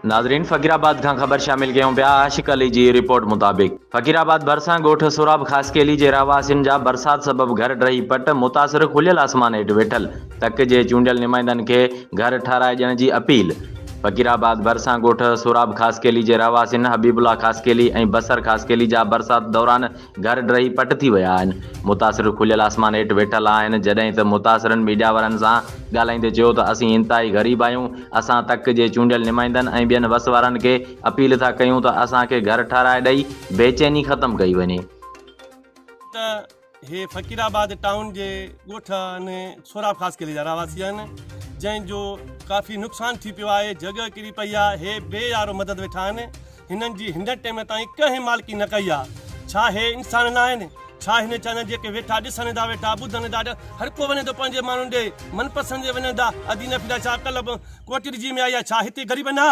ناظرين فقير آباد کان خبر شامل ڪيون پيا عاشق علي جي رپورٽ مطابق فقير آباد ڀرسان ڳوٺ سوراب خاصخيلي جي رهواسين جا برسات سبب گهر ڊهي پٽ متاثر کليل آسمان هيٺ ويٺل تڪ جي چونڊيل نمائندن کي گهر ٺهرائي ڏيڻ جي اپيل فقير آباد ڀرسان ڳوٺ سوراب خاصخيلي جي رهواسين حبيب الله خاصخيلي ۽ بصر خاصخيلي جا برسات دوران گهر ڊهي پٽ ٿي ويا آهن، متاثر کليل آسمان هيٺ ويٺل آهن، جڏهن ته متاثرن ميڊيا وارن سان ڳالهائيندي چيو ته اسين انتهائي غريب آهيون، اسان تڪ جي چونڊيل نمائندن ۽ ٻين وس وارن کي اپيل ٿا ڪيون ته اسان کي گهر ٺهرائي ڏئي بيچيني ختم ڪئي وڃي. ته هي فقير آباد ٽائون جي ڳوٺ انهي سهراب خاص قلعي جا رهواسي آهن جنهن جو ڪافي نقصان ٿي پيو آهي جڳهه ڪري پئي آهي هي بي يارو مدد ويٺا آهن. هنن جي هندن ٽيم تائين ڪنهن مالڪي نه ڪئي آ ڇا هي انسان ناهن ڇا هن چانئن جيڪي ويٺا ڏسن ادا ويٺا ٻڌن ادا هر ڪو وڃي ٿو پنهنجي ماڻهن ڏي من پسند جي وڃن ادا ادي نه ڦريا ڇا اڪل ڪوٽ ڏجي ۾ آئي آ ڇا هتي غريب نه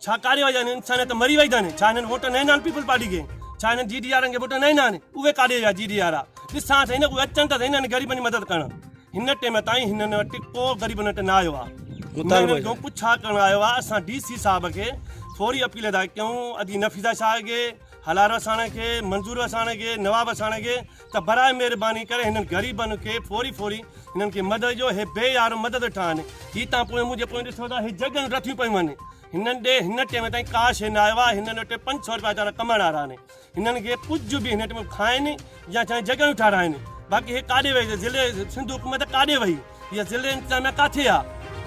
ڇا ڪاري ويا آهن انسان ته مري وئي ٿن ڇا هنن ووٽ نه آهن پيپل پارٽي کي ڇا هنن جي ڊي آرن کي ووٽ نه آهن اهي ڪاڏي ويا جي ڏي آرا ڏسان سهي نه اهي اچن ته سهي نه هن غريبن جي مدد ڪرڻ هن ٽيم تائين هنن وٽ ڪو غريبن وٽ نه آيو آهي مطالبو جو ڪجهه ڇا ڪرڻ آيو آهي اسان ڊي سي صاحب کي فوري اپيل ادا ڪيون ادي نفيسا شاهه کي حلال وساڻ کي منظور وساڻ کي نواب وساڻ کي ته برائي مهرباني ڪري هنن غريبن کي فوري فوري هنن کي مدد جو هي بي يار مدد ٺا آهن هي تان پوء منهنجي پوء ڏسو ته هي جڳن رٿيون پيون آهن هنن ڏي هن ٽيم تائين ڪا شي نه آيو آهي هنن وٽ پنج سؤ روپيا ويچارا ڪمائڻ وارا آهن هنن کي ڪجهه به هن ٽيم کائن يا چاهي جڳهيون ٺاراهن باقي هي ڪاڏي وئي ضلعي سنڌ حڪومت ڪاڏي وئي هي ضلعي انتظاميا ڪاٿي آ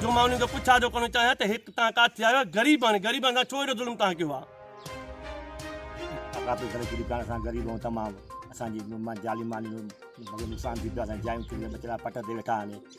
جو مان انهن کي پڇا ٿو ڪرڻ چاهيان ته هڪ تان ڪاٿي آيو غريب آهن غريبن سان ڇو اهڙو ظلم تان ڪيو آ ڪاپي کڻي ڪري پاڻ سان غريب آهيون تمام اسان جي جالي مالي جو نقصان ٿي پيو آ اسان جي جايون ڪري ٻچڙا پٽ تي ويٺا آهن